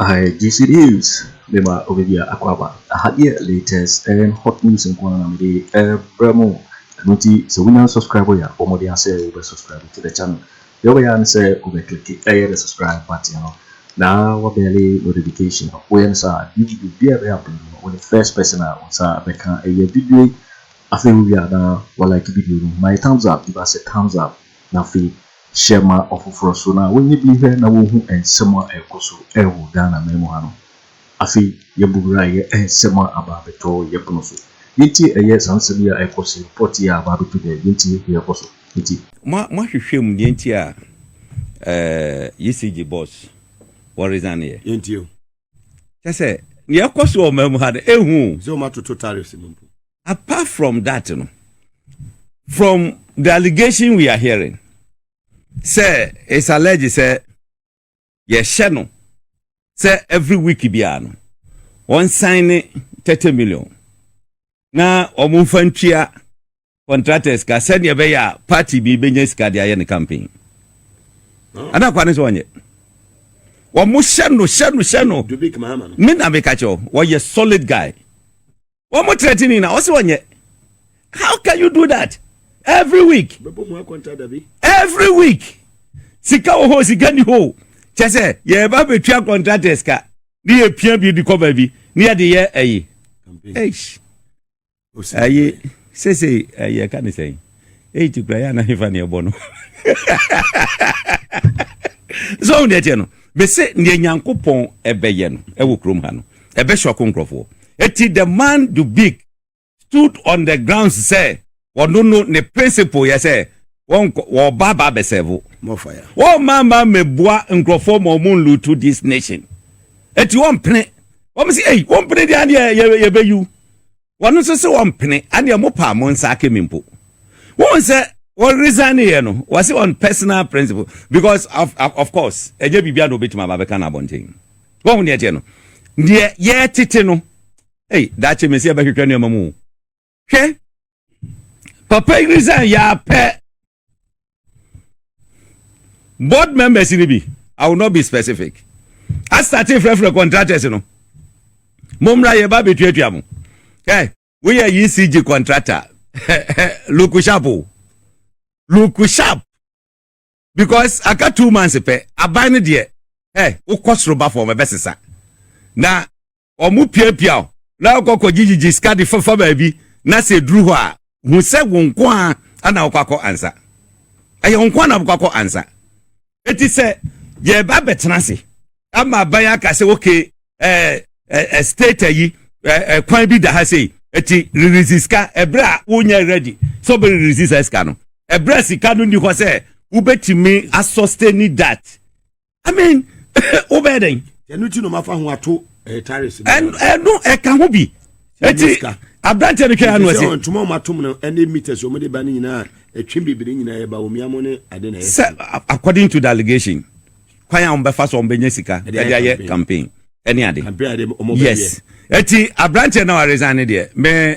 Aha yɛ juicy news de ma obi bia akwaaba. Aha deɛ latest and hot news nko ara na me de ɛbrɛ mo. Ɛno nti sɛ wonya nsubscribe yɛ a bɔ mmɔden ara sɛ wo bɛ subscribe to the channel. Deɛ wobɛyɛ ara ne sɛ wo bɛ click ɛyɛ the subscribe button no na wa bɛlle notification no. Woyɛ no saa a new video biara ɛbɛyɛ upload no wo ne first person a wo nsa bɛka ɛyɛ video yi. Afei wo wie a na wa like video no ma yɛ thumbs up give us a thumbs up na afei Hyɛ ma ɔfoforɔ so na wɔnyɛ bi nhwɛ na wɔnhu nsɛm a ɛrekɔ so wɔ Ghana man mu ha no. Afei yɛbɔ wura yɛ nsɛm a aba abɛtɔ yɛ pono so. Yɛntie ɛyɛ saa nsɛm yi a ɛrekɔ so yi, report yi a aba abɛtɔ dwa yi, yɛntie deɛ ɛrekɔ so nti. Mo mo ahwehwɛ mu deɛ nti a ɛɛ ECG boss wɔ resign yɛ. Yɛn tie o. Kyɛ sɛ deɛ ɛkɔ so wɔ ɔman mu ha no ɛhu o. Sɛ wɔn atoto tariffs no mpo. Apart from that no, from the allegation we are hearing, sɛ it's alleged sɛ yɛhyɛ no sɛ every week biara no wɔn sign ne thirty million na wɔn nfa ntua contractors ka sɛdeɛ ɛbɛyɛ a party bi bɛnya sika de ayɛ ne campaign ana kwa ne sɛ wɔnyɛ wɔn hyɛ no hyɛ no hyɛ no me na meka kyɛw wɔyɛ solid guy wɔn threatening na ɔsi ɔnyɛ how can you do that every week every week sika wɔ hɔ sika ni hɔ kyɛ sɛ yɛreba bɛtua contractors ka ne yɛ pia bi de kɔ baabi ne yɛde yɛ ɛyi ɛyi sese ɛyɛ ka ne sɛn. eyi ti kura yɛ ana hefa na ɛbɔ no sɛ ɔhu deɛ teɛ no mese neɛ nyankopɔn ɛbɛyɛ no ɛwɔ kurom ha no ɛbɛhyɛ ɔko nkurɔfoɔ ɛti the man do big stood on the ground sɛ ɔno no ne principle yɛ sɛ wɔba ba bɛsɛvo wɔma ma mɛboa nkurɔfoɔ ma ɔmo nlutu this nation ɛti wɔmpene wɔm sɛ ei wɔmpene deɛ adeɛ yɛbɛyiw wɔn nso se wɔn pene adeɛ ɔmo paa mo nsa ake mi mpo wɔn sɛ wɔn resign ne yɛ no wɔse wɔn personal principle because of, of, of course ɛnyɛ biribi a na obetumi aba abɛka no abɔnten wɔn ho deɛ teɛ no deɛ yɛ tete no ei daakye mesi ɛbɛhwehwɛ nneɛma mu hwɛ papa yi resign yɛ apɛ board members ni bi i will not be specific asate frɛfrɛ contractors no mo mmra yɛ ba betuatua mo ɛ woyɛ ecg contractor luku sharp o luku sharp because aka two months pɛ aban no deɛ ɛ wokɔ soro ba fam ɛbɛsesa na wɔpiapia wo na wokɔ akɔgyegyegye sika de fafa baabi na sɛ ɛduru hɔ a, hu sɛ wo nko ara na wokɔ akɔ ansa. Ɛyɛ wo nko ara na wokɔ akɔ ansa. Enti sɛ yɛba bɛtena ase ama aban aka sɛ okay ɛɛ ɛɛ state ayi ɛɛ kwan bi da ha sei eti release sika ɛbrɛ a wonyɛ ready sɛ ɔbɛ release sɛ sika no ɛbrɛ sika no ni hɔ sɛ wobɛtumi asɔ stay ni dat i mean wobɛyɛ dɛn ɛno ti no mafa ho ato eh, taris ɛno ɛka ho bi ɛti aberanteɛ no twɛa no ase ntoma ɔma tom no ɛne meters ɔmde ba no nyinaa ɛtwe bebere nyinaa ɛba ɔmia mo ne ade na ɛsɛ according to the allegation kwan a wɔbɛfa so wɔbɛnya sika ɛde ayɛ campaign ɛne ade yes ɛti aberanteɛ na waresan ne deɛ me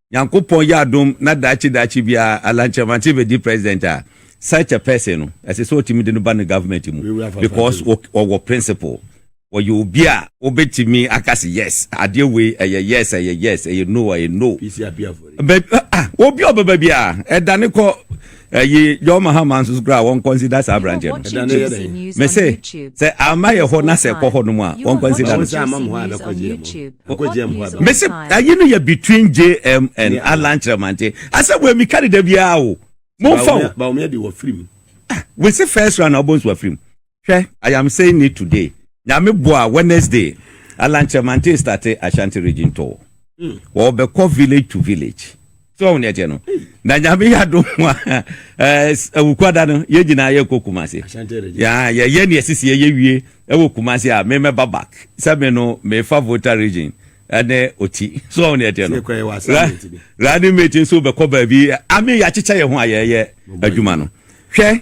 Nyankopɔn yɛ adom na daakye daakye biara Alan Kyeremantse bɛdi President a, such a person no, ɛsɛ sɛ ɔtumi de no ba ne government mu because ɔwɔ principle. Ɔyɛ obi a wobɛtumi aka sɛ yes, adeɛ wei ɛyɛ yes, ɛyɛ yes, ɛyɛ no, ɛyɛ no. Baabi a ɔbɛba biara, ɛdane kɔ. ɛyi john mahama nso kura a wɔnkɔnsida saa aberanteɛ no ɛda no yɛ dɛ me se sɛ ama yɛ hɔ na sɛ ɛkɔ hɔ nom a wɔnkɔnsida no me se ayi no yɛ between jm and alan kyerɛmante asɛ wɔ mi kari da biara o momfa o wese first round na ɔbɔ nsu afirim Hwɛ I am saying it today Nyame boa a Wednesday Alankyɛ Mante starte Ashanti region tour Wɔbɛkɔ village to village So wahu nea ɛteɛ no Na Nyame yɛ adom a eh, Awukuada no yɛn nyinaa yɛkɔ Kumase Yeah yɛyɛ nea ɛsisi yɛyɛ wie Ɛwɔ Kumase a me mɛba back Sɛ me no mefa Volta region ɛne Oti So wahu nea ɛteɛ no Ra Running mate nso bɛkɔ baabi I mean yɛakyekyɛ yɛn ho a yɛyɛ adwuma no Hwɛ.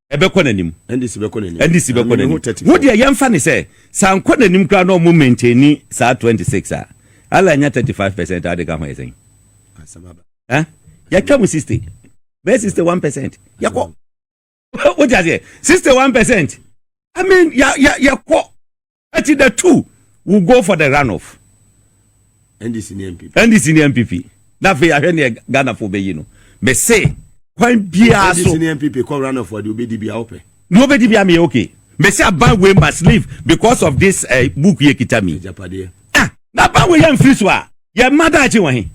ɛbɛkɔ n'anim ndc bɛkɔ n'anim ndc bɛkɔ n'anim wo deɛ yɛn fa ne sɛ saa nkɔ n'anim koraa na ɔmo maintain saa 26 a ala nya 35 percent a ɔde ka ho yɛ sɛn ɛ yɛtwa mu 60 bɛyɛ 61 percent yɛkɔ wo deɛ aseɛ 61 percent I mean yɛkɔ Eti the two will go for the runoff. NDC ne NPP. NDC ne NPP. Na afei ahwɛ ne Ghana fo bɛyi no. Me se kwan biara so. NDC ne NPP kɔ runoff ɔde obedi bia ɔpɛ. Ne obedi bia me okay. Me se aban we must leave because of this uh, book ye kita mi. Japadeɛ. Ah, na aban we yɛ mfiri so a yɛ mma daakye wɔ he.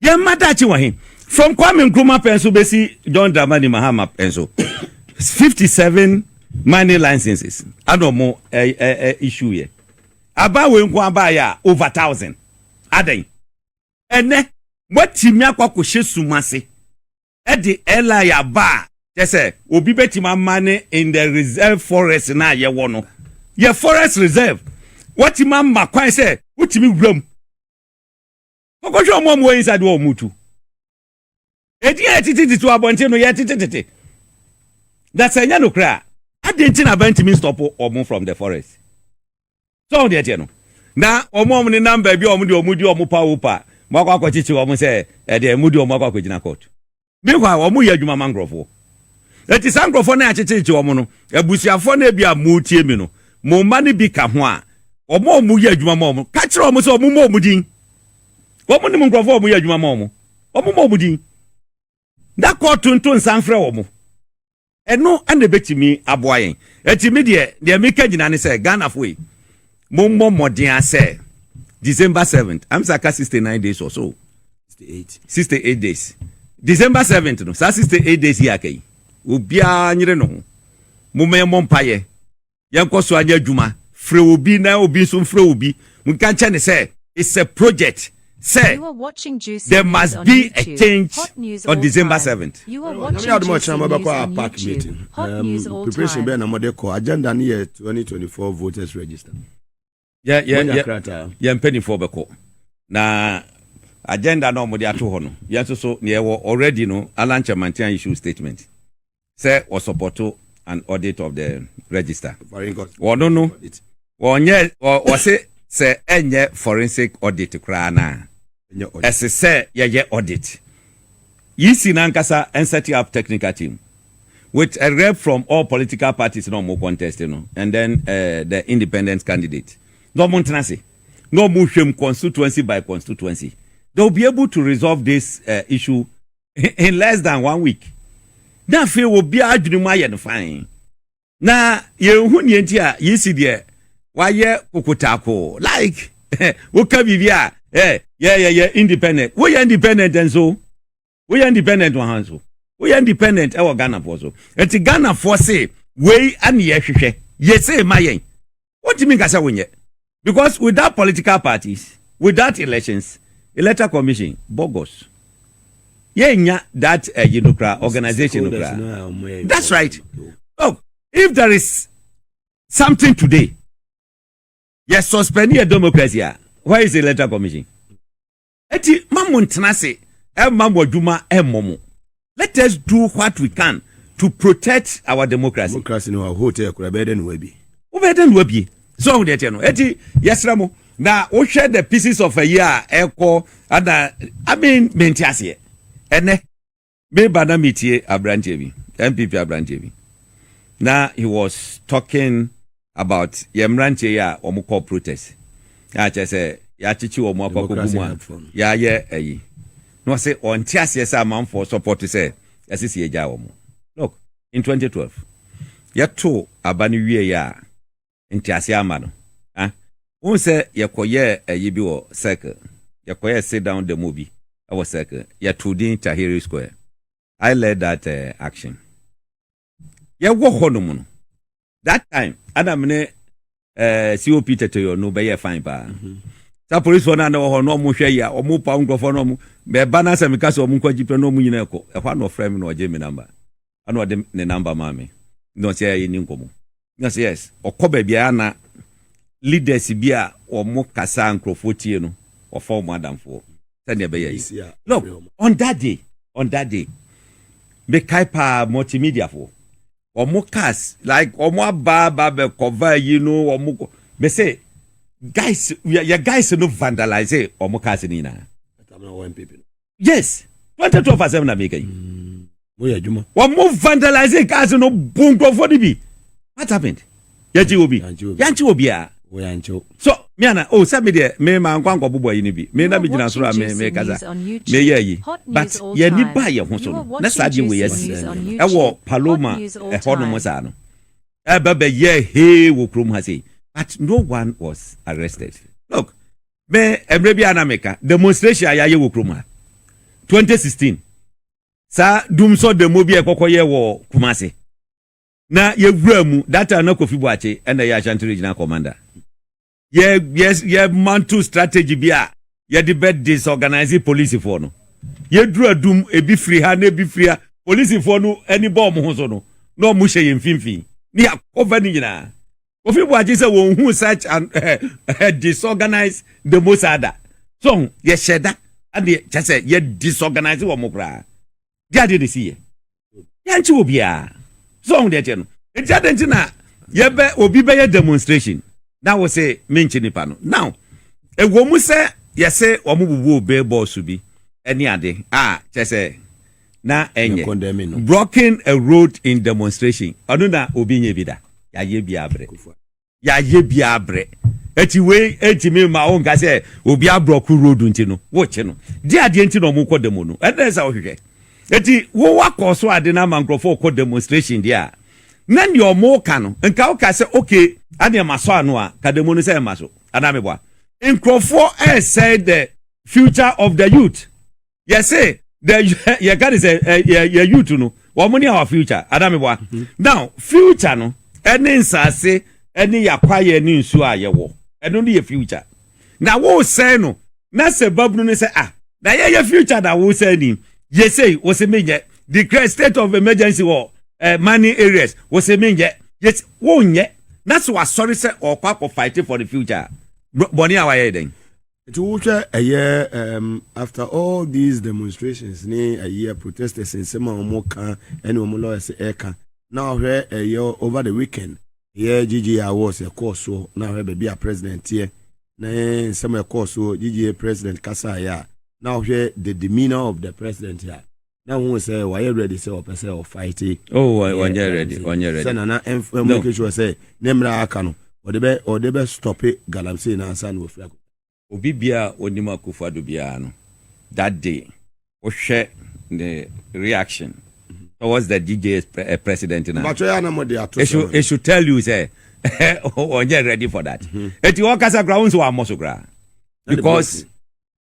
Yɛn mma daakye wɔ he? From Kwame Nkrumah pɛn so bɛsi John Dramani Mahama pɛn so. 57 mining licenses ana ɔmo eh, eh, eh, issue yɛ. Aba wei nko abaayɛ a over thousand. Adɛn? Ɛnɛ, moatumi akɔ akɔhyɛ sum ase ɛde ɛlae aba a kyɛ sɛ obi bɛtumi ama ne in the reserve forest no a yɛwɔ no yɛ forest reserve watumi ama kwan sɛ wotumi wuram wɔkɔhwɛ wɔn a wɔwɔ inside wɔ wɔn tu edi a yɛtetetete wɔ abɔnten no yɛtetetete na sɛ ɛnyɛ no koraa adi nti na abɛntumi stop wɔn from the forest sɛ wɔn deɛ teɛ no na wɔn a wɔn nenam baabi a wɔn deɛ wɔn di wɔn pa wo pa wɔn akɔ akɔkyekye wɔn sɛ ɛdeɛ wɔn di wɔn akɔ akɔgyina court Meanwhile, wɔyɛ adwuma ma nkurɔfoɔ. Enti saa nkurɔfoɔ no a yɛakyekyerekye wɔn no, abusuafoɔ no a ebi a moretie me no, mo mma no bi ka ho a, wɔn a wɔyɛ adwuma ma wɔn, ka kyerɛ wɔn sɛ wɔmmɔ wɔn din. Wɔnim nkurɔfoɔ a wɔyɛ adwuma ma wɔn. Wɔmmɔ wɔn din. Na kɔ to nto nsa mfrɛ wɔn. Ɛno na ɛbɛtumi aboa yɛn. Ɛnti me deɛ, deɛ meka nyinaa ne sɛ, Ghanafoɔ yi, mommɔ mmɔden ara sɛ, December 7th, ɛm sɛ aka 69 days or so, 68 days, December 7th no, saa 68 days yi aka yi, obiara nyere ne ho, momma yɛmmɔ mpaeɛ, yɛnkɔ so anyɛ adwuma, frɛ obi na obi nso mfrɛ obi, monka nkyerɛ no sɛ it's a project, sɛ there must be a change on December 7th. Nyame yɛ adom a ɔkyena mɔbɛkɔ a park meeting. Um, preparation bɛɛ na mɔde kɔ. Agenda no yɛ 2024 voters register. yɛnya krataa yɛn mpanimfoɔ bɛkɔ na agenda na wɔde ato hɔ no yɛn nso so nea ɛwɔ already no alan chamantia issue statement sɛ ɔsupporto an audit of the register wɔn no wɔnyɛ wɔse sɛ ɛnyɛ forensic audit koraa no a Ɛse sɛ yɛyɛ audit. Yi si no ankasa and setting up technical team with a rep from all political parties na wɔn contest no and then eh, the independent candidate na wɔn ntena ase na wɔn hwɛm constituency by constituency. They will be able to resolve this uh, issue in less than one week. Na afei obiara adwene mu ayɛ no fine. na yɛnhu nea nti a yisi deɛ wayɛ kokotakoo like woka biribi a eh, yɛyɛ yɛ independent woyɛ independent nso woyɛ independent wɔ ha nso woyɛ independent ɛwɔ ghanafoɔ so ɛti ghanafoɔ se wei ane yɛhwehwɛ yɛsee ma yɛn wontumi nka sɛ wonyɛ because without political parties without elections electoral commission bogus yɛnnya that ɛyi eh, no kora organization no kora that's right look if there is something today yɛ suspend yɛ democracy a where is the electoral commission. Eti ma mo ntena ase ɛmma mo adwuma ɛmmɔ mo. Let us do what we can to protect our democracy. Democracy no ahote ɛkora ɛbɛyɛ dɛ na wabie. Wobɛyɛ dɛ na wabie. So ɔho deɛ teɛ no. Eti yɛsrɛ mo na wohwɛ the pieces of ayi a ɛkɔ ana I mean mente aseɛ ɛnɛ. Meba na metie aberanteɛ bi, NPP aberanteɛ bi, na he was talking about yɛn mmeranteɛ yi a wɔkɔ protest, a kyerɛ sɛ yɛakyekye wɔn akɔ akɔgu mu a yɛayɛ ayi. Na ɔse ɔnte aseɛ sɛ amanfoɔ support sɛ ɛsɛ sɛ yɛgyae wɔn. Look, in 2012, yɛtoo aba no wieeɛ a, ntease ama no. Ná wohu sɛ yɛkɔyɛɛ ayi bi wɔ Circle, yɛkɔyɛɛ sit down demo bi wɔ Circle, yɛtoo din Tahrir Square. I led that action. Yɛwɔ hɔnom no, that time ana me ne COP Tɛtɛyɔ no bɛyɛɛ fine paa. Saa polisfoɔ no a na wɔ hɔ no, wɔhwɛ yɛ a, wɔpaw nkurɔfoɔ no, wɔn bɛba no asɛ meka sɛ wɔn nkɔ agyi pɛ na wɔn nyinaa kɔ. Ɛhɔ a na ɔfrɛ me na ɔgye me namba. ɛna ɔde ne number maa me na ɔsɛ yɛ ni nkɔmɔ na ɔsɛ yes ɔkɔ baabi a na leaders bi a wɔn kasa nkurɔfoɔ tie no wɔfa wɔn adamfoɔ sɛdeɛ ɛbɛyɛ yi no on that day on that day mekae paa multimedia foɔ wɔn cars like wɔn aba aba bɛkɔva yi no wɔn kɔ mese guys yɛ guys no vandalize wɔn cars no nyinaa. yes twenty twelve asɛm na meka yi mm, moyɛ adwuma wɔn vandalizing cars no bu nkurɔfoɔ no bi what happened yɛgye wɔ bi yɛnkye wɔ biara so me ana o oh, sɛ me deɛ me ma nkwa nkɔ bobɔ yi no bi me na me gyina soro a me me kasa me yɛ yi but yɛni ba yɛ ho so no na saa deɛ wɔ yɛ si ɛwɔ paloma ɛhɔ nom saa no ɛbɛbɛyɛ hee wɔ kurom ha sei but no one was arrested look me mmerɛ bi a na meka demonstration a yɛayɛ wɔ kurom ha 2016 saa dumsɔ demo bi a ɛkɔkɔ yɛ wɔ Kumase na yɛwura mu that time na Kofi Boakye ɛna yɛ Ashanti regional commander yɛ yɛ yɛ mantle strategy bi a yɛde bɛ disorganize polisifoɔ no yɛdura dum ebi firi ha na ebi firi ha polisifoɔ no ani bɔ wɔn ho so no na wɔn hyɛ yɛn mfimfini ne yɛakɔfa ne nyinaa Kofi Boakye sɛ wɔn hu such an uh, disorganized demo saa da. So ho yɛhyɛ da ɛde kyɛ sɛ yɛ disorganize wɔn mo koraa. Di adeɛ de si yɛ. Yɛnkye wɔ biara. So ho deɛ kyɛ no. Nti adeɛ nti na yɛbɛ obi bɛyɛ demonstration na wo se menkye nipa no. Now ɛwɔ mu sɛ yɛse wɔn bubu billboards bi ɛne ade a kyɛ sɛ na ɛnyɛ blocking a road in demonstration ɔno na obi nyɛ bi da yɛayɛ bi abrɛ yɛayɛ bi abrɛ ɛti wei ɛntumi ma wo nka sɛ obi abrɔko road nti no wokye no de adeɛ nti na ɔmo kɔ demo no ɛnɛ sɛ wohwehwɛ ɛti wo wakɔ so ade no ama nkurɔfoɔ kɔ demonstration deɛ a na deɛ ɔmo ka no nka woka sɛ okay adeɛ ma sɔ ano a ka demo no sɛ ɛma so anaa meboa nkurɔfoɔ ɛresɛe the future of the youth yɛse the yɛka ne sɛ yɛ youth no wɔn ne our future adameboa mm-hmm. now future no ɛne nsaase ɛne yakwayɛ ne nsuo a yɛwɔ ɛno ne yɛ future na wosɛn no na sɛ babunu ne sɛ ah na yɛyɛ future na wosɛn ni yɛsei wɔsɛ menyɛ declare state of emergency wɔ eh, money areas wɔsɛ menyɛ yɛsɛ wonyɛ na sɛ wasɔre sɛ ɔkɔ akɔ fight for the future bɔne a wayɛ dɛn Nti wohwɛ ɛyɛ um, after all these demonstrations ne ɛyɛ protesters nsɛm a wɔn ka ɛne wɔn lawyers ɛka na ɔhwɛ ɛyɛ over the weekend ɛyɛ GGA awards ɛkɔɔ soɔ na ɔhwɛ baabi a president teɛ na nsɛm ɛkɔɔ soɔ GGA president kasaeɛ a na ɔhwɛ the demeanor of the president a na hu sɛ wayɛ ready sɛ ɔpɛ sɛ ɔfighte oh ɔnyɛ ready ɔnyɛ ready sɛ nana ɛmfa make sure sɛ ne mmerɛ aka no ɔde bɛ ɔde bɛ stope galamsey na ansa na wafiri akɔ obi biara a ɔnim akufo ado biara no that day wohwɛ ne reaction mm-hmm. towards the DJ's pre eh, president na mbatwɛ ya na mo de ato so it should tell you sɛ ɔnyɛ ready for that eti mm-hmm. ɔkasa kora wo nso wa mmɔ so kora because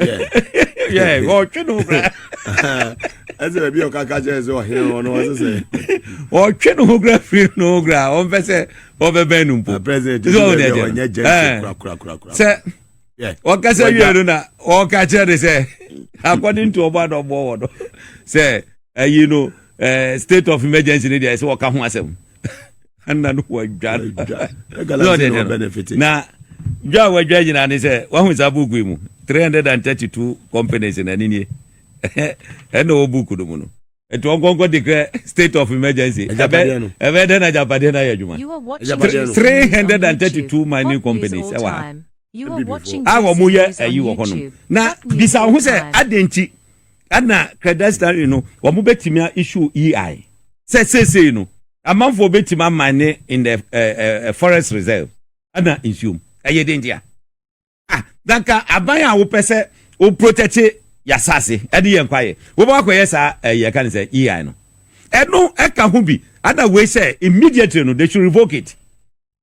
ɔtwe no kora ɛsɛ baabi a ɔkaka kyerɛ sɛ ɔhene hɔ no ɔse sɛ ɔtwe no ho kora firi no ho kora ɔmpɛ sɛ ɔbɛbɛn no mpo sɛ ɔkasa wie no na ɔka kyerɛ de sɛ according to ɔbɔ adɔbɔ wɔ no sɛ ayi no state of emergency no deɛ ɛsɛ ɔka ho asɛm na no wadwa na dwa a wadwa nyinaa ne sɛ wahu saa buku yi mu 332 companies na ne nie ɛna wɔ buku no mu no ɛti wɔn kɔnkɔ declare state of emergency ɛbɛ dɛ na agyapadeɛ no ayɛ adwuma 332 mining companies ɛwɔ ha a wɔn yɛ ayi wɔ hɔnom na bisa ho sɛ adɛn nti Ɛna credestaling no wɔn bɛtumi a issue EI sɛ seesei no amanfoɔ bɛtumi amine in the uh, uh, forest reserve ɛna nsuom ɛyɛ den deɛ ah danka aban a wopɛ sɛ wo protect yasase ɛde yɛn kwaeɛ wobɛ wakɔyɛ saa ɛyɛ ka ne sɛ EI no ɛno ɛka ho bi ɛna wei sɛ immediately no they should revoke it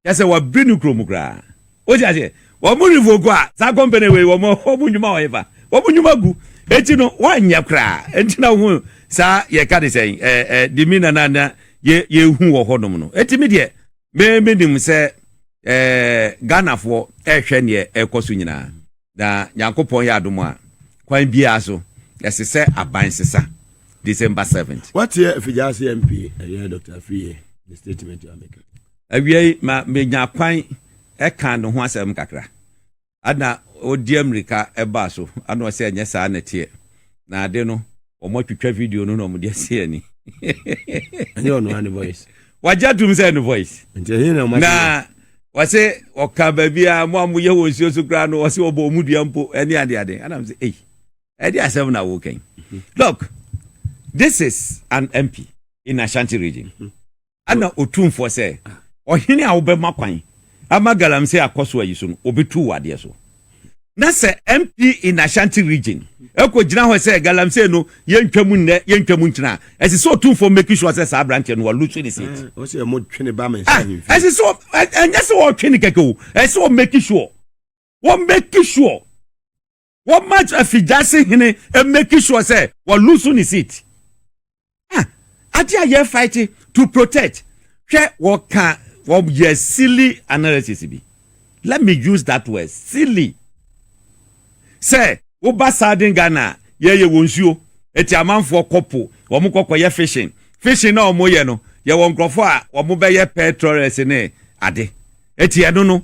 Kyɛ sɛ wɔabiri no kurom koraa. Wote aseɛ? Wɔn revoke a, saa company wei, wɔn, wɔn nnwuma wɔ hefa? Wɔn nnwuma gu. Enti no, wɔanyɛ koraa. Enti na wohu saa, yɛka ne sɛn, ɛɛ, ɛɛ, demeanor no a na yɛ, yɛhu wɔ hɔnom no. Enti me deɛ, me, menim sɛ, ɛɛ, Ghanafoɔ rehwɛ deɛ ɛrekɔ so nyinaa. Na Nyankopɔn yɛ adom a, kwan biaa so, ɛse sɛ aban sesa. December 7th. Wateɛ Afigyaase MP ɛyɛ Doctor Afriyie ne statement a meka. Awiei ma menya kwan ɛka ne ho asɛm kakra. Ana ɔdi ammirika ɛbaa so, ana ɔse ɛnyɛ saa na ɛteɛ? Na ade no. wɔn atwitwa video no na wɔn de asi ani. ɛnyɛ ɔno ani voice. wagye atum sɛ ɛno voice. nti ɛyɛ na ɔma na wɔsɛ ɔka baabi a mo a mo yɛ wɔ nsuo so koraa no wɔsɛ wɔbɔ ɔmo dua mpo ɛne ade ade ɛna mo sɛ eyi ɛde asɛm na awo kɛn look this is an mp in ashanti region. Mm -hmm. Ɛna Otumfoɔ sɛ, Ɔhene a wobɛma kwan ama galamsey akɔ so ayi so no, obetu wo adeɛ so. Na sɛ MP in Ashanti region ɛkɔgyina hɔ sɛ galamsey no yɛntwa mu nnɛ, yɛntwa mu nkyena a, ɛsɛ sɛ Otumfoɔ make sure sɛ saa aberanteɛ no walusu ne seat. Ɔsɛ ɛmo twe ne ba mɛnsa ahemfie. Ɛsɛ sɛ ɛnyɛ sɛ ɔtwe ne kɛkɛ o, ɛsɛ sɛ ɔmake sure, wɔmake sure. wɔma afigyase hene make sure sɛ wɔlusu ne seat ah ade a yɛ fight to protect hwɛ wɔka wɔyɛ silly analysis bi let me use that word silly sɛ woba southern ghana yɛyɛ wɔn nsuo eti amanfoɔ kɔpo wɔn kɔkɔyɛ fishing fishing na wɔyɛ no yɛwɔ nkurɔfoɔ a wɔbɛyɛ petrolers ne ade eti ɛno no.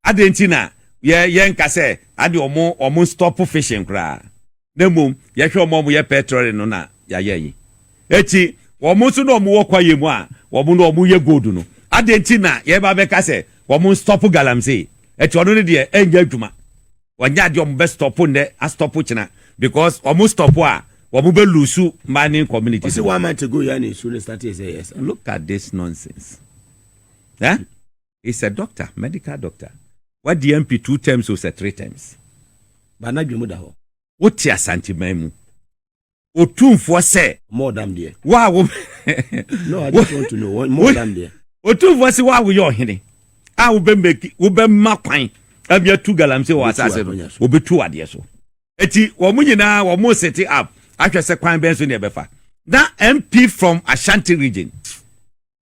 Adɛn nti na yɛ yɛnka sɛ ade ɔmo ɔmo nstɔpo fishing koraa na mmom yɛhwɛ ɔmo a ɔmo yɛ petrolling no na yayɛ yi akyi ɔmo nso na ɔmo wɔ kwaeɛ mu a ɔmo na ɔmo yɛ gold no adɛn nti na yɛba abɛka sɛ ɔmo nstɔpo galamsey ɛti ɔno no deɛ ɛnyɛ adwuma ɔnyɛ adeɛ ɔmo bɛ stɔpo nnɛ astɔpo kyena because ɔmo stɔpo a ɔmo bɛ lusu mining community Ɔsi one month ago yɛ na nsuo no startee sɛ ɛyɛ saa. look at this nonsense eh? is a doctor, medical doctor, wadi MP two terms o sɛ three terms, but n'adwene mu da hɔ. Wote Asanteman mu Otumfoɔ sɛ. More than deɛ. Wo a wo. No, I just want to know more than deɛ. Otumfoɔ se wo a woyɛ ɔhene a wobɛ make wobɛma kwan ami atu galamsey wɔ asase no obetu wadeɛ so. Eti wɔn nyinaa wɔn sete up ahwɛ sɛ kwan bɛn so na ɛbɛfa. Na MP from Ashanti region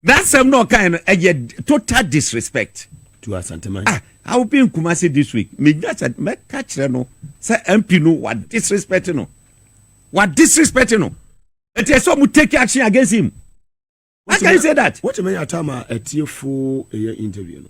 That same no ɔkae no ɛyɛ total disrespect to Asanteman. Ah, I will be in Kumasi this week. Me nya sɛ mɛka kyerɛ no sɛ MP no wa disrespect no. Wa disrespect no. It is so mu take action against him. How can you say that? What you mean atama atiefo ɛyɛ interview no?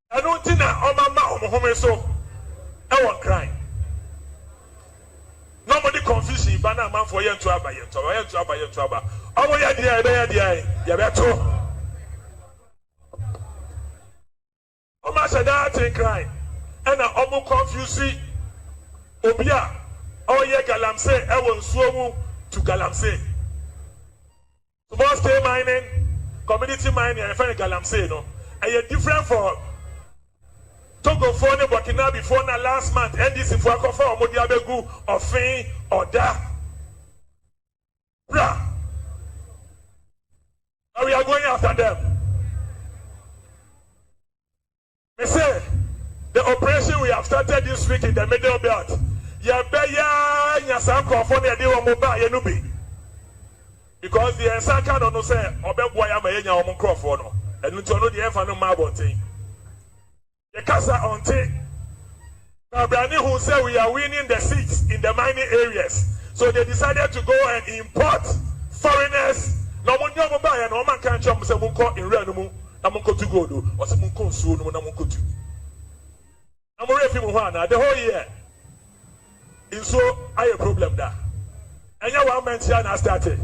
Ɛno nti na wɔama wɔn home so wɔ Nkran, na wɔde confusion ba na amanfoɔ yɛ nto aba, yɛ nto aba, yɛ nto aba, yɛ nto aba. Wɔyɛ deɛ yɛbɛyɛ deɛ yɛbɛto. Wɔahyɛ daa te Nkran na wɔn confuse obi a ɔyɛ galamsey wɔ nsuo mu to galamsey. Small scale mining, community mining a yɛfrɛ no galamsey no, ɛyɛ different for Togofoɔ ne Burkinabefoɔ no a last month NDC foɔ akɔfa wɔn de abɛgu Ɔfen, Ɔda, Pra, but we are going after them. Me se the operation we have started this week in the middle belt yɛbɛyɛ ara nya saa nkurɔfoɔ no yɛde wɔn baeɛ no bi because deɛ nsa ka no no sɛ ɔbɛboa yɛ ama yɛnya wɔn nkurɔfoɔ no ɛno nti ɔno deɛ yɛmfa no mma abɔnten yɛkasa ɔnte Babrane hu sɛ we are winning the seats in the mining areas so they decided to go and import foreigners na ɔmo de ɔmo baeɛ na ɔmo anka ankyerɛ ɔmo sɛ monkɔ nwura no mu na monkɔtu gold o ɔse monkɔ nsuo no mu na monkɔtu na mo werɛ fi mo ho anaa the whole year nsuo ayɛ problem da. Ɛnyɛ one man tia na astarte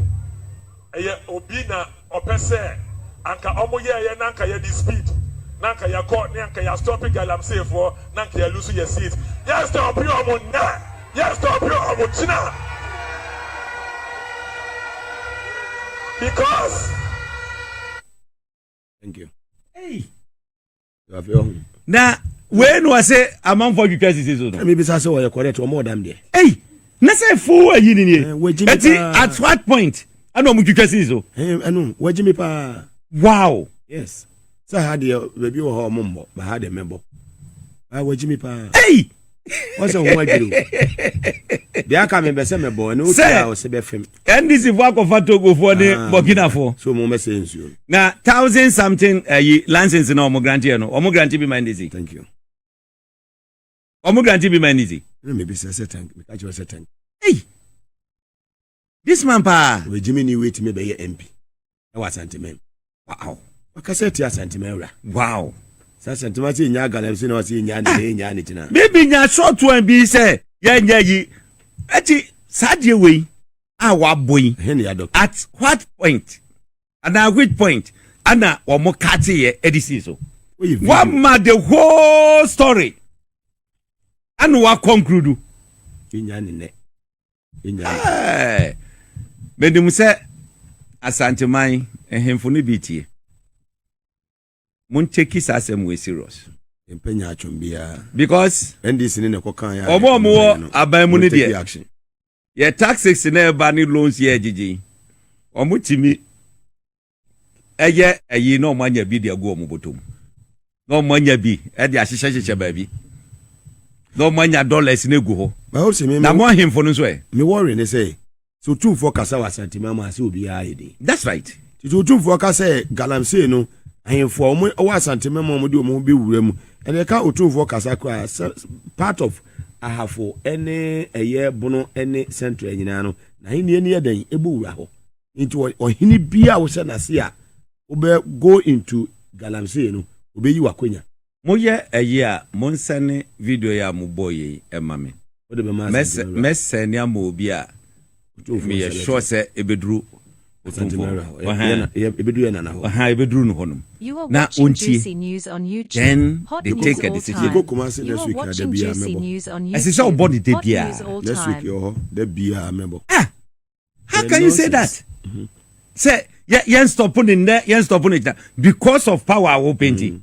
ɛyɛ obi na ɔpɛ sɛ anka ɔmo yɛɛyɛ na anka yɛde speed na anka yɛkɔ ne anka yɛ stop galamsey foɔ na anka yɛ lose yɛ seat yɛ stop ɔmo nnɛ yɛ stop ɔmo kyena because na wei na ɔsɛ amanfoɔ twitwa sisi so no. ɛmi bisa sɛ ɔyɛ correct ɔmo ɔdam deɛ. ɛyi na sɛ fo ayi ni nie ɛti at what point ɛna ɔmo twitwa sisi so. ɛnu wagye mi paa. wow. yes sɛ ha deɛ baabi wɔ hɔ ɔmo mbɔ ba ha deɛ mɛbɔ ba wagye mi paa. ɛyi. wọn sɛ wọn adwiri o deɛ aka mi bɛ sɛ mɛ bɔ ɛna o ti a ɔsɛ bɛ fɛm. ndc fo akɔfa togofoɔ ne ah, burkinafoɔ. so mo bɛ sɛ nsuo. na thousand something ayi eh, license na wɔn grant yɛ no wɔn grant bi ma ndc. thank you. wɔn grant bi ma ndc. ɛna mi bi sɛ sɛ tank mi ka kyerɛ sɛ tank. eyi. This man paa. Wɔagyimi ni wetumi bɛyɛ MP ɛwɔ Asanteman. Wow. Wakasa ti Asanteman wura. Wow. Sɛ Asanteman sɛ ɛnya galamsey na wɔsɛ ɛnya ne sɛ ɛnya ne gyina. Bibi nya short one bi sɛ yɛnyɛ yi. Ɛti saa deɛ wei a wabɔ yi. Ɛhe ne yadɔ. At what point? Anaa which point? Ana wɔn kate yɛ ɛde si so. Wama the whole story. Ɛna wakɔ nkurudu. Ɛnya ne nɛ. menim sɛ asanteman ahemfo no bi tie monkyɛki saa asɛm wei serious mpɛ nya atwom biara because ndc ne na ɛkɔ kan yɛ ɔmo ɔmo wɔ aban mu no deɛ yɛ taxes na ɛba ne loans yɛ agyegye ɔmo tumi ɛyɛ ayi na wɔn anya bi de agu wɔn bɔtɔ mu na wɔn anya bi de ahyehyɛ hyehyɛ baabi na wɔn anya dollars na egu hɔ na mo ahemfo no nso ɛ. mi wɔre ne sɛ sɛ otumfoɔ kasa wɔ asantema ama ase obiara yɛ den. that's right. tete otumfoɔ ka sɛ galamsey no ahemfo a wɔn wɔ asantema mu a wɔn de wɔn ho bɛ wura mu ɛna ɛka otumfoɔ kasa koraa sɛ part of ahafo ɛne ɛyɛ bono ɛne central nyinaa no na ahenni ɛni yɛ den ɛbɔ wura hɔ. nti ɔhene bi a wohyɛ n'ase a wobɛ go into galamsey no obeyi w'akonya. Moyɛ ɛyɛ a monsɛne video yi a mobɔɔ yei ɛma me. Mɛsɛne ama obi a meyɛ sure sɛ ɛbɛduru Otumfoɔ Wura hɔ. Ahaa, ɛbɛduru no hɔnom na ɔntie then they take a decision. Ɛsɛ sɛ wobɔ no da biara. Ah! how can you say that mm-hmm. sɛ yɛn stop ne nnɛ yɛn stop ne gyina because of power a wɔpɛ nti mm.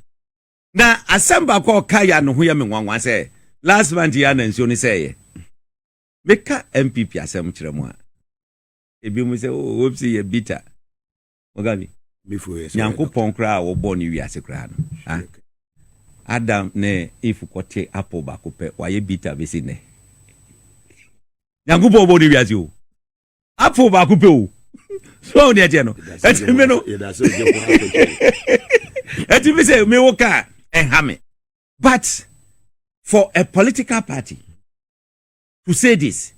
na asɛm baako a ɔka yɛ ano ho yɛ me nwanwa sɛ last month yɛ ana nsuo ne sɛ yɛ meka npp asɛm kyerɛ mu a ebi mu sɛ o oh, wɔpsi yɛ bitter Wɔka bi? Nyankopɔn koraa a wɔbɔɔ ne wiase koraa no, ah, Adam ne Eve kɔte apple baako pɛ, wɔayɛ bitter bɛsi nnɛ. Nyankopɔn bɔɔ ne wiase o. Apple baako pɛ o. So ne ɛteɛ no. Ɛti me no. Ɛti me sɛ me wo ka ɛha me. But for a political party, Thucydides,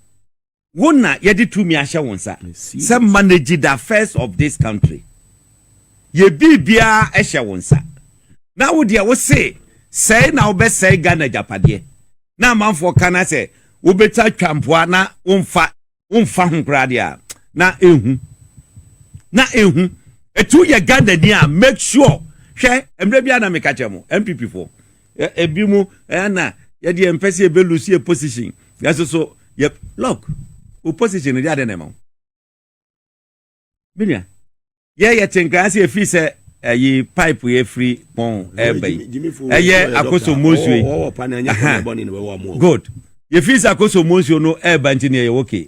wo na yɛde tumi ahyɛ wo nsa sɛ manage the affairs of this country. Yɛ biribiara hyɛ wo nsa. Na wo deɛ wo se sɛe na wobɛsɛe Ghana agyapadeɛ. Na amanfoɔ ka na sɛ wobɛtumi atwa mpoa na womfa womfa ho koraa deɛ a, na ɛhu. Na ɛhu. Ɛti woyɛ Ghanani a, make sure, hwɛ, mmerɛ biara na meka kyerɛ mo, NPP foɔ, Ebi mu ɛyɛ na yɛde yɛn mpɛ sɛ yɛbɛ lose yɛ position yɛso so yɛ lock o position no de adɛ na ɛma wo menua yɛ yɛ te nkran sɛ yɛfiri sɛ ɛyi pipe yɛ firi pɔn ɛɛba yi ɛyɛ akoso mosue good yɛfiri sɛ akoso mosue no ɛɛba nti ne ɛyɛ okay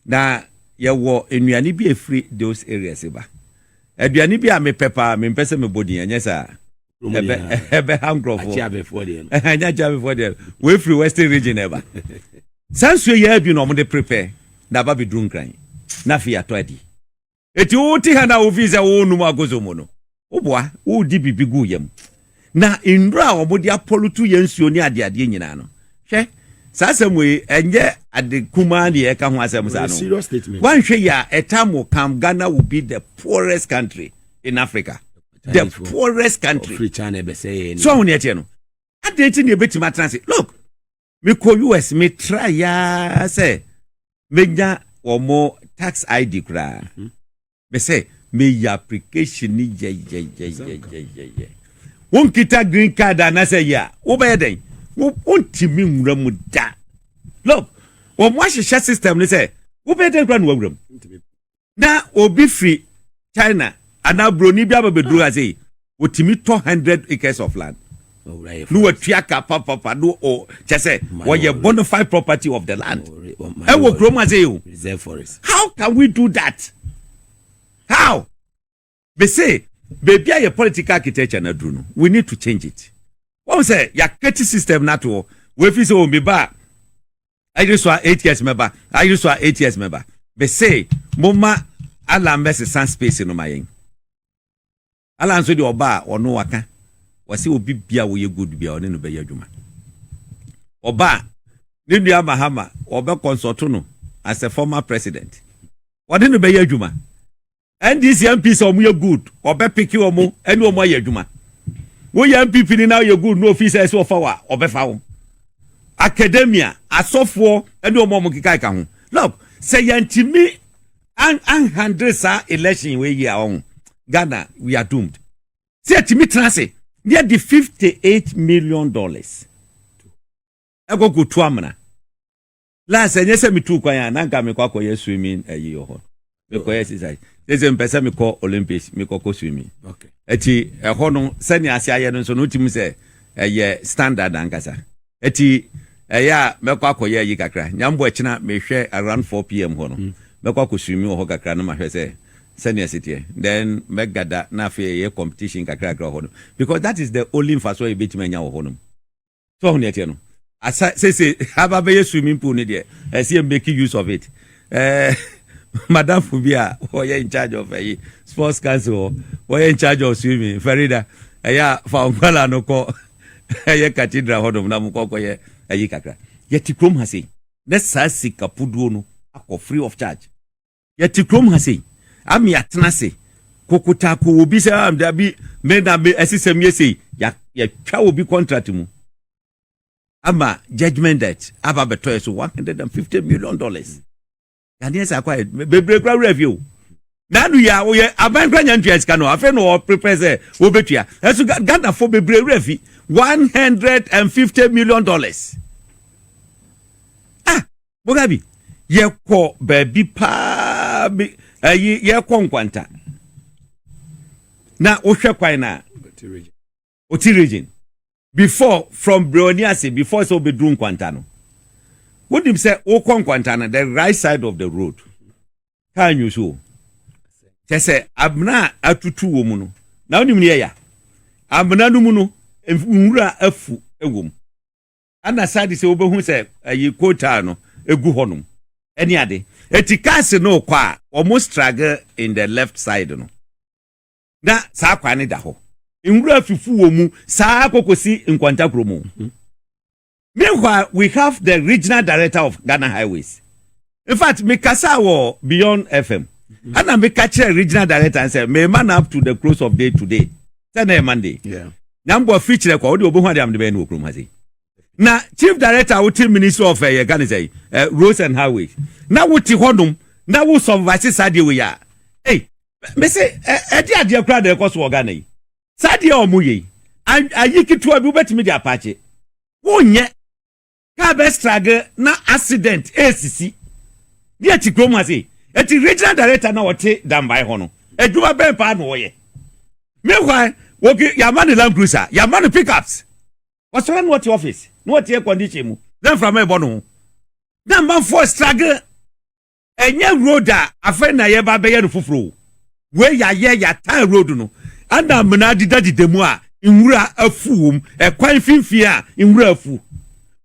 Na yɛwɔ nnuane bi a ɛfiri those areas ba. Aduane bi a mepɛ paa, mempɛ sɛ mebɔ din, ɛnyɛ saa? ɛbɛha nkurɔfoɔ ɛnyɛ akyeabefoɔ deɛ wɔafiri western region ɛba saa nsuo yɛ adwi na wɔde prepare na aba bɛduru nkran na afei atɔ adi Enti wote ha na wofii sɛ worenom agozo mu no, woboa, woredi biribi gu wo yam. Na nnuru a wɔde apɔlutu yɛ nsuo ne adeadeɛ nyinaa no, hwɛ, saa asɛm wei, ɛnyɛ ade kumaa ne yɛreka ho asɛm saa no. Woanhwɛ yie a, ɛtaa mo kam Ghana will be the poorest country in Africa. The poorest country. So ahu ne ɛteɛ no. Adɛn nti ne yɛbɛtumi atena ase? Look! mekɔ us metra yaa sɛ menya wɔn mo tax id koraa mhm. mesɛ meyɛ application ni yɛyɛyɛyɛyɛyɛ wonkita green card anasɛ yɛ a wobɛyɛ dɛn wontimi nwura mu da look wɔn ahyehyɛ system ne sɛ wobɛyɛ dɛn koraa na wawura mu na obi firi china anaa buroni bi aba bɛduru ha sei wɔtumi tɔ 100 acres of land na watua ka papafa no o kyɛ sɛ wɔyɛ bonafide property of the land ɛwɔ kurom ha sei o how can we do that how Me se baabi a yɛ political architecture no aduru no we need to change it. Wɔn sɛ yɛakɛti system no ato hɔ. Wɔafi sɛ o meba a ayere so a eight years mɛba ayere so a eight years mɛba. Me se moma Allah mmɛsesa space no ma yɛn. Allah nso deɛ ɔba a ɔno waka wɔse obi bia wɔyɛ good bia ɔne no bɛyɛ adwuma. Ɔba a ne nua Mahama wɔbɛ consult no as a former president wɔne no bɛyɛ adwuma. NDC MP sɛ ɔmo yɛ good ɔbɛ piki ɔmo ɛne ɔmo ayɛ adwuma woyɛ NPP ni na ɔyɛ good na ofi sɛ ɛsɛ ɔfa wa ɔbɛfa wo akademia asɔfoɔ ɛne ɔmo ɔmo keka ɛka ho look sɛ yɛntumi anhandle saa election wei yi a ɔho Ghana we are doomed sɛ yɛtumi tena ase ne yɛde 58 million dollars ɛkɔ kɔtu amena last ɛnyɛ sɛ metu kwan a na nka mekɔ akɔyɛ swimming ayi wɔ hɔ mekɔyɛ exercise sese mpɛ sɛ mekɔ olympics mekɔkɔ swimming ɛti ɛhɔ no sɛnea ase ayɛ no nso no wotim sɛ ɛyɛ standard ankasa ɛti ɛyɛ a mɛkɔ akɔyɛ ayi kakra nyambɔ akyina mehwɛ around 4 pm hɔ no mm. mɛkɔ akɔ swimming wɔ hɔ kakra no mahwɛ sɛ sɛnea ɛsiteɛ then mɛgada na afei ɛyɛ competition kakrakra wɔ hɔ no because that is the only mfasoɔ a yɛbɛtumi anya wɔ hɔ nom so ɔho neɛ teɛ no asa sese aba bɛyɛ swimming pool ne deɛ ɛsɛ yɛ make use of it ɛɛ madamfo bi a wɔyɛ in charge of ɛyi sports council hɔ wɔyɛ in charge of swimming farida ɛyɛ a fa nkwala no kɔ ɛyɛ cathedral hɔ nom na mo kɔkɔ yɛ ɛyi kakra yɛte kurom ha sei na saa sika puduo no akɔ free of charge Yɛte kurom ha sei, ama yɛatena ase kokotako wɔ bi sɛ ah, dabi me na me ɛsɛ sɛ meyɛ sei. Yɛatwa wɔ bi contract mu ama judgment debt aba bɛtɔ yɛ so one hundred and fifty million dollars. Yadeɛ sɛ akɔ ayɛ bebree kora werɛ afie o. N'ano yi a wɔyɛ aban kora nya ntua sika no afei na wɔprepare sɛ wɔbɛtua. Ɛso Ghanafoɔ bebree werɛ afi one hundred and fifty million dollars. boga bi yɛkɔ baabi paa bi ayi yɛkɔ nkwanta na wohwɛ kwan na oti region before from brewani ase before sɛ wobɛduru nkwanta no wonim sɛ wokɔ nkwanta no the right side of the road kaa nwu so o kyɛ sɛ amena a atutu wɔ mu no na wonim ne ɛya amena no mu no nwura afu wɔ mu ɛna saa de sɛ wobɛhu sɛ ayi kotaa no ɛgu hɔnom ɛne ade ɛti cars no rekɔ a wɔn struggle in the left side no na saa kwan no da hɔ nwura fifu wɔ mu saa kɔkɔsi nkwantakuro mu meanwhile we have the regional director of Ghana highways infact mekasaa wɔ beyond fm ɛna meka kyerɛ regional director n sɛ mema no up to the close of day today sɛ na yɛ monday na mbɔ afiri kyerɛ kwa wode wɔbɛhu ade amde bɛyɛ no wɔ kurom ha sei na chief director a wote ministry of ɛyɛ eh, ka ne sɛ eh, roads and highways na wote hɔnom na wo supervise saa deɛ wei a ei mese ɛde eh, adeɛ koraa na ɛkɔ so wɔ ghana yi saa deɛ ɔmo yei ayi ketewa bi wobɛtumi de apaakye wonyɛ car bɛ struggle na accident ɛresisi ne ɛte kurom ase ɛti regional director na ɔte dambae hɔ no adwuma bɛn paa na ɔyɛ meanwhile wɔki yɛama ne land cruiser yɛama no pickups ɔsɔre na ɔte office na ɔte air condition mu na mframa ɛbɔ no ho na amanfoɔ struggle Ɛnyɛ road a afei na yɛreba abɛyɛ no foforɔ o. Wei yɛayɛ, yɛataa road no. Ɛna amena adedadeda mu a nwura afu wɔ mu, ɛkwan mfimfini a nwura afu.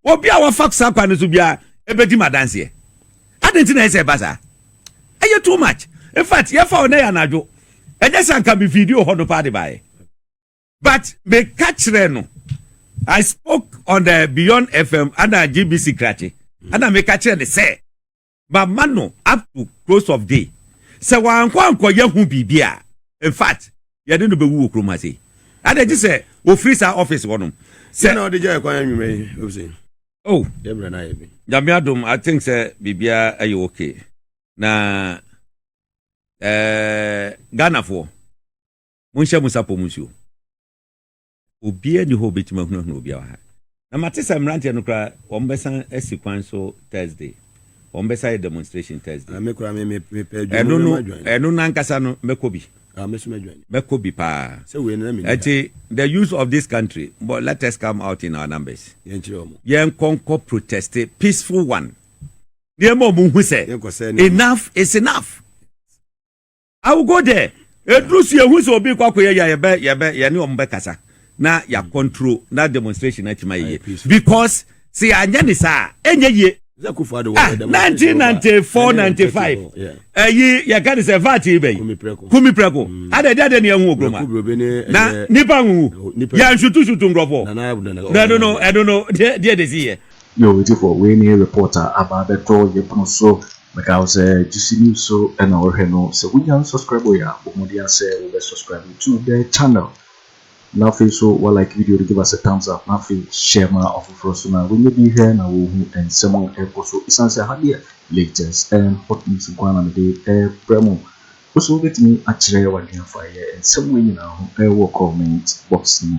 Obi a wafa saa kwan no so biara bɛdi me adanseɛ. Adɛn nti na ɛyɛ sɛ ɛba saa? Ɛyɛ too much. In fact, yɛfa hɔ na ɛyɛ anadwo. Ɛnyɛ sɛ anka me video hɔ no paa de baeɛ. But meka kyerɛɛ no, I spoke on the Beyond FM ɛna GBC Krakye, ɛna meka kyerɛɛ no sɛ, mama no up to close of day. Sɛ wankɔ ankɔyɛ ho biribi a, in fact, yɛde no bɛwu wɔ kurom ha sei. Adɛn nti sɛ wɔfiri saa office hɔ nom. Sɛ na ɔde gyae kwan anwummerɛ yi, obsei. Oh, yɛbrɛ no ayɛ bi. Nyame adom, I think sɛ biribiara ɛyɛ okay. Na eh, Ghanafoɔ, monhyɛ mo sapɔ mu nsuo. Obiara nni hɔ a obetumi ahunahuna obiara wɔ ha. Na mate sɛ mmeranteɛ no koraa, wɔbɛsan asi kwan so Thursday. Wɔbɛsan ayɛ demonstration Thursday. Ah, me koraa, me- me- mepɛ adwuma, Ɛno no, mɛma dwan. ɛno no ankasa no, mɛkɔ bi. Ah, me nso mɛdwan. Mɛkɔ bi paa. Sɛ wei no, na menni ha. Ɛnti, the youth of this country, but let us come out in our numbers. Yɛnkyerɛ wɔn. Yɛnkɔ nkɔ protest, peaceful one. Na yɛma wɔn hu sɛ, Yɛnkɔsɛe nneɛma. enough is enough. I will go there. Eduru so ehu sɛ obi kɔ akɔyɛ yɛ yɛbɛ yɛbɛ yɛne wɔn bɛkasa na yɛ mm. control na demonstration atuma yie because sɛ yɛanyɛ ne saa ɛnyɛ yie. Ah, 1994 95 ɛyi yɛka ne sɛ vat yi bɛyi kumi prɛko ada ɛde adɛ ne ɛho ogroma na nipa nhuhu yɛnsutusutu nkurɔfoɔ na ɛno no ɛno no deɛ de si yɛ Yo atiefo wei ne report a aba abɛtɔ yɛn pono so. Mɛkae wo sɛ Juicy News so na wohwɛ no. Sɛ wunnya nsubscribɔe a, bɔ mmɔden ara sɛ wobɛ subscribe to the channel. Na afei nso wa like video no, give us a thumbs up, na afei share ma ɔfoforɔ nso na wanya bi hwɛ na wɔhu nsɛm a ɛrekɔ so. Ɛsiane sɛ ha deɛ latest and hot news nko ara na mede rebrɛ mo. Wo nso wobɛtumi akyerɛ w'adwene afa yɛn nsɛm wei nyinaa ho wɔ comment box no mu.